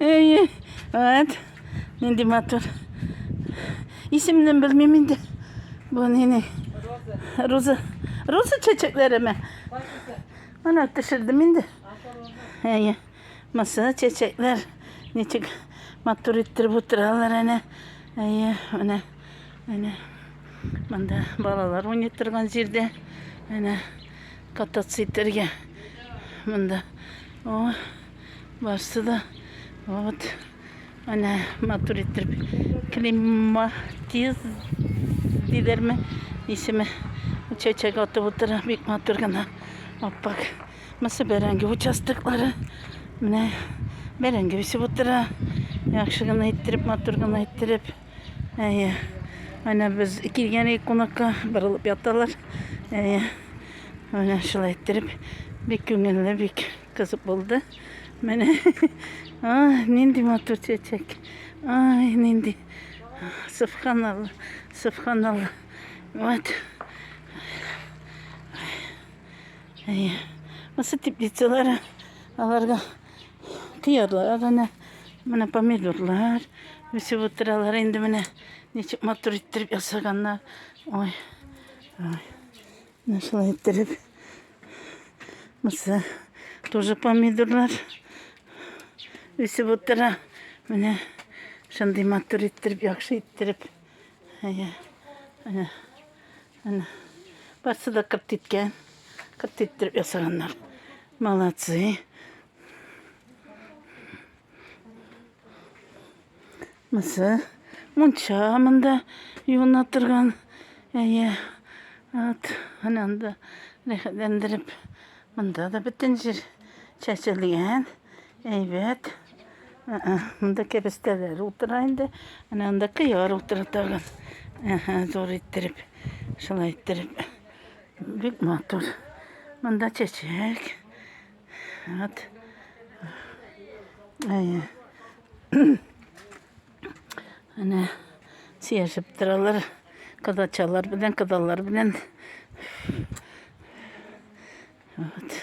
Әйе. Әт. Нинди матур. Исемне белмим инде. Бу нинең? Роза. Роза чәчәкләреме? Ана төшердем инде. Әйе. Маса чәчәкләр. Ничек матур иттереп утыралар әнә. Әйе, әнә. Әнә. Монда балалар уйный торган җирдә. Әнә кататься итәргә. Монда О, барсы да. Вот. Әнә матур иттереп климатиз диләрме? Исеме чәчәк атып утыра. Бик матур гына. Аппак. Мысы бәрәңге участоклары. Менә бәрәңге үсеп утыра. Яхшы гына иттереп, матур гына иттереп. Әйе. Менә без килгән идек кунакка, борылып яталар. Әйе. Менә шулай иттереп, бик күңелле, бик кызык булды. Менә. Ай, нинди матур чәчәк. Ай, нинди. Субханалла. Субханалла. Вот. Әйе. Осы теплицалар аларга Кыярлар әнә, менә помидорлар үсеп утыралар инде менә. Ничек матур иттереп ясаганнар. Ой. Ой. Менә шулай иттереп. Мысы тоже помидорлар үсеп утыра. Менә шундый матур иттереп, яхшы иттереп. Әйе. Әнә. Әнә, барсы да кырт иткән. Кырт иттереп ясаганнар. Молодцы. Мысы. Мунча монда юына торган. Әйе. Ат, әнә анда рәхәтләндереп. Монда да бөтен җир чәчелгән. Әйбәт. Ә-ә, монда кәбестәләр утыра инде. Әнә анда кыяр утыра тагын. Әһә, зур иттереп, шулай иттереп. Бик матур. Монда чәчәк. Вот. Әйе. Әнә сияшеп торалар. Кадачалар белән, кадалар белән. Вот.